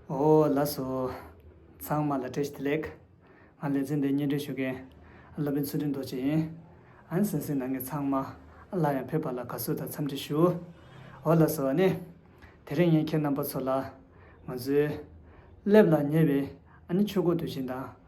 ཨོ་ལ་སོ། ཚང་མ་ལ་བཀྲ་ཤིས་བདེ་ལེགས། ང་ལེ་ཚན་འདི་སྙན་སྒྲོན་ཞུ་མཁན། བློ་དཔོན་ཚུལ་ཁྲིམས་རྡོ་རྗེ་ཡིན། ཨན་སན་སི་ནང་གི་ཚང་མ་ལ་ཡང་ཕེབས་པ་ལ་དགའ་བསུ་དང་འཚམས་འདྲི་ཞུ། ཨོ་ལ་སོ་ནི། དེ་རིང་ངས་ཁྱེད་རྣམ་པ་ཚོ་ལ། ང་ཚོའི། སླེབས་ལ་ཉེ་བའི་ཨ་ནི་ཆོས་འཁོར་དུས་ཆེན་དང།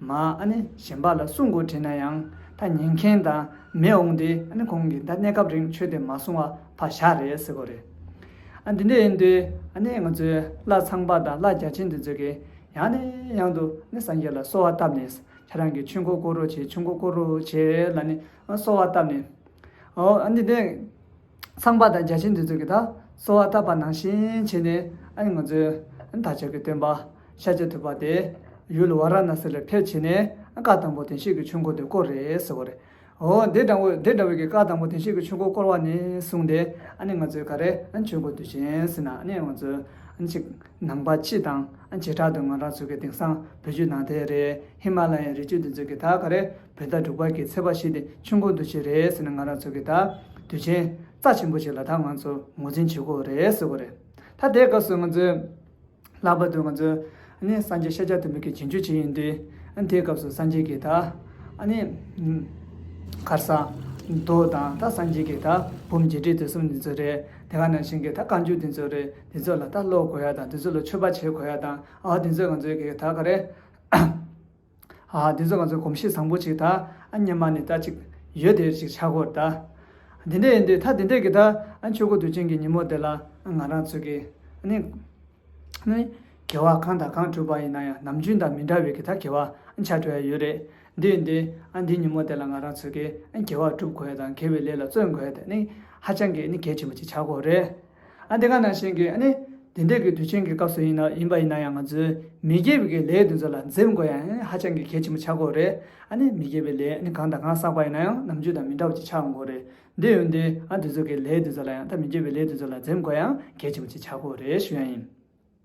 མ་ནི་གཞན་པ་ལ་སྲུང་དགོས་དྲན་ན་ཡང་ད་ཉན་མཁན་དང་མེད་འོང་སྟེ་ཁོང་གིས་ད་གནས་སྐབས་རིང་ཆོས་དེ་མ་སྲུང་བ་ཕ་ཞག་རེད་ཟེར་གོ་རེད། འདི་འདྲ་ཡིན་དུས་ང་ཚོས་བླ་ཚངས་པ་དང་བླ་རྒྱ་ཆེན་དེ་ཚོས་གིས་ཡང་ནས་ཡང་དུ་སངས་རྒྱས་ལ་གསོལ་བ་བཏབ་ནས་ཁྱེད་རང་གི་ཆོས་འཁོར་བསྐོར་རོགས་བྱེད་ཆོས་འཁོར་བསྐོར་རོགས་བྱེད་ལ་ནས་གསོལ་བ་བཏབ་ནས་འོ་འདི་འདྲ། ཚངས་པ་དང་བརྒྱ་བྱིན་འདི་ཚོས་ཀྱི་ད་གསོལ་བ་བཏབ་པ་ནང་བཞིན་བྱས་ནས་ཨ་ནི་ང་ཚོས་ད་ཆ་གི་སྟོན་པ་ཤཱ་ཀྱ་ཐུབ་པ་དེ་ཡུལ་ཝཱ་ར་ཎཱ་སི་ལ་ཕེབས་བྱས་ནས་བཀའ་དང་པོ་དེང་ཤིག་གི་ཆོས་འཁོར་དེ་བསྐོར་རེད་ཟེར་བ་རེད། ཨོ་དེ་འདྲ་བོ་དེ་འདྲ་བོ་གི་བཀའ་དང་པོ་དེང་ཤིག་གི་ཆོས་འཁོར་བསྐོར་བ་ནས་བཟུང་སྟེ་ཨ་ནི་ང་ཚོས་ག་རེ་ཆོས་འཁོར་དུ་བཞེངས་ཟིན་ན་ཨ་ནི་ང་ཚོས་གཅིག་ནང་པ་སྤྱི་དང་བྱེ་བྲག་ཏུ་ང་རང་ཚོ་གི་དེང་སང་བོད་བརྒྱུད་ནང་བསྟན་རེད་ཧི་མ་ལ་ཡའི་རི་ཆུ་འདི་ཚོས་ཀྱི་ད་ག་རེ། བོད་ཟླ་དྲུག་པར་གྱི་ཚེས་པ་ཞིག་སྟེ་ཆུ་མགོ་འདུ་བྱེད་རེད་ཟེར་ནས་ང་རང་ཚོ་གི་ད་དུས་ཆེན་རྩ་ཆེན་པོ་ཞིག་ལ་ད་ང་ཚོ་ངོ་འཛིན་བྱེད་དགོས་རེད་ཟེར་གོ་རེད་ད་དེའི་སྐབས་སུ་ང་ཚོས་ལྷག་པར་དུ་ང་ཚོས་ནི་སངས་རྒྱས་ཤཱཀྱ་ཐུབ་བུ་གི་རྗེས་འཇུག་བྱེད་ཡིན་དུས་ཨ་དེའི་སྐབས་སུ་སངས་རྒྱས་ཀྱི་ད་ནི་ཁར་ས་རྡོ་དང་ད་སངས་རྒྱས་ཀྱི་ད་བུམ་རྗེས་འབྲེལ་དེ་གསུམ་འདི་ཚོ་རེད་དེ་ག་ནང་བཞིན་གྱི་ད་བཀའ་འགྱུར་འདི་ཚོ་རེད་འདི་ཚོ་ལ་ད་ཀློག་དགོས་ཡ་དང་འདི་ཚོ་ལ་མཆོད་པ་བྱེད་དགོས་ཡ་དང་ཨ་དེ་ཚོ་ང་ཚོའི་གི་ད་ག་རེད། ཨ་ཧ་འདི་ཚོ་ང་ཚོའི་གོམས་གཤིས་བཟང་པོ་ཅིག་ད་སྙམ་མ་ནི་ད་ཅིག་ཡོད་དེ་ཅིག་ཆག་གོ་ད། འདི་འདྲས་ཡིན་དུས་ད་འདི་འདྲས་ཀྱི་ད་ཆོས་སྐུ་དུས་ཆེན་གྱི་ཉིན་མོ་འདི་ལ་ང་རང་ཚོས་ཀྱི་ནི། གེ་བ་གང་དང་གང་བྲུས་པ་ཡིན་ན་ཡང་ནམ་རྒྱུན་དང་མི་འདྲ་བའི་ཀྱི་ད་གེ་བ་ཆ་བྲུས་ཡ་ཡོད་རེད་འདི་ཡིན་དུས་ཨ་འདི་ཉིན་མོ་འདི་ལ་ང་རང་ཚོས་ཀྱི་གེ་བ་བསྒྲུབ་དགོས་དང་གེ་བའི་ལས་ལ་བརྩོན་དགོས་དེ་ནི་ཧ་ཅང་གི་ནི་གལ་ཆེན་པོ་ཅིག་ཆག་གོ་རེད། ཨ་འདི་ག་ནང་བཞིན་གྱི་ཨ་ནི་དེ་འདྲས་ཀྱི་དུས་ཆེན་གྱི་སྐབས་སུ་ཡིན་ཡིན་པ་ཡིན་ན་ཡང་ང་ཚོའི་མི་དགེ་བའི་ལས་དེ་ཚོ་ལ་འཛེམ་དགོས་ཡང་ཨ་ནི་ཧ་ཅང་གི་གལ་ཆེན་པོ་ཆགས་དགོས་རེད་ཨ་ནི་མི་དགེ་བའི་ལས་ཨ་ནི་གང་དང་གང་བསགས་པ་ཡིན་ན་ཡང་ནམ་རྒྱུན་དང་མི་འདྲ་བ་ཅིག་ཆགས་དགོས་རེད་འདི་ཡོད་འདི་ཨ་དེ་ཚོ་གི་ལས་དེ་ཚོ་ལ་ཡང་ད་མི་དགེ་བའི་ལས་དེ་ཚོ་ལ་འཛེམ་དགོས་ཡང་གལ་ཆེན་པོ་ཅིག་ཆགས་དགོས་རེད་ཞུ་ཡང་ཡིན།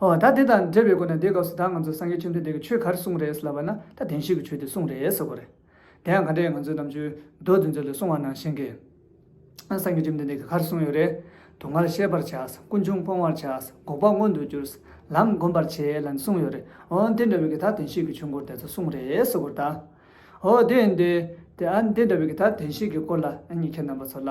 ཨོ་ད་དེ་དང་འབྲེལ་བའི་སྒོ་ནས་དེའི་སྐབས་སུ་ད་ང་ཚོ་སངས་རྒྱས་བཅོམ་ལྡན་འདས་ཀྱིས་ཆོས་ག་རེ་གསུངས་རེད་ལབ་པ་ན་ད་བདེན་བཞི་གི་ཆོས་དེ་གསུངས་རེད་ཟེར་དགོས་རེད། དེ་ཡང་ག་འདྲ་ཡིན་ང་ཚོའི་རྣམ་དཔྱོད་རྡོ་རྫི་མཛོད་ལས་གསུངས་བ་ནང་བཞིན་གྱི། སངས་རྒྱས་བཅོམ་ལྡན་འདས་ཀྱིས་ག་རེ་གསུངས་ཡོད་རེད། དུག་ལྔར་ཤེས་པར་བྱ། ཀུན་འབྱུང་སྤོང་བར་བྱ། འགོག་པ་མངོན་དུ་གྱུར། ལམ་བསྒོམ་པར་བྱེད་ལ་ནི་གསུངས་ཡོད་རེད། ཨོ་དེ་འདྲ་བའི་གི་ད་བདེན་བཞི་གི་ཆོས་འཁོར་འདས་ཚོ་གསུངས་རེད་ཟེར་དགོས་རེད་ད། ཨོ་དེ་འདི། དེ་འདྲ་བའི་གི་ད་བདེན་བཞི་གི་སྐོར་ལ་ཨ་མྱེས་ཁྱེད་རྣམ་པ་ཚོ་ལ།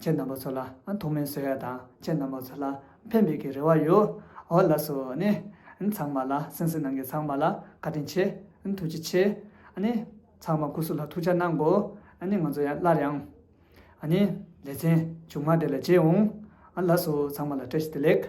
ཁྱེད་རྣམ་པ་ཚོ་ལ་ཐོག་མའི་བཟོད་ཡ་དང་ཁྱེད་རྣམ་པ་ཚོ་ལ་ཕན་འབེད་ཀྱི་རེ་བ་ཡོད་ཨོ་ལ་སོ་ནི། ཚང་མ་ལ་སེང་སེང་ནང་གི་ཚང་མ་ལ་བཀའ་དྲིན་ཆེ། ཐུགས་རྗེ་ཆེ། ནི། ཚང་མ་སྐུ་གཟུགས་ལ་ཐུགས་ཅག་གནང་གོ། ནི་ང་ཚོ་ཡང་སླར་ཡང། ནི། ལེ་ཚན། ཆུང་མ་དེ་ལ་བརྗེད་འོང། ལ་སོ་ཚང་མ་ལ་བཀྲ་ཤིས་བདེ་ལེགས།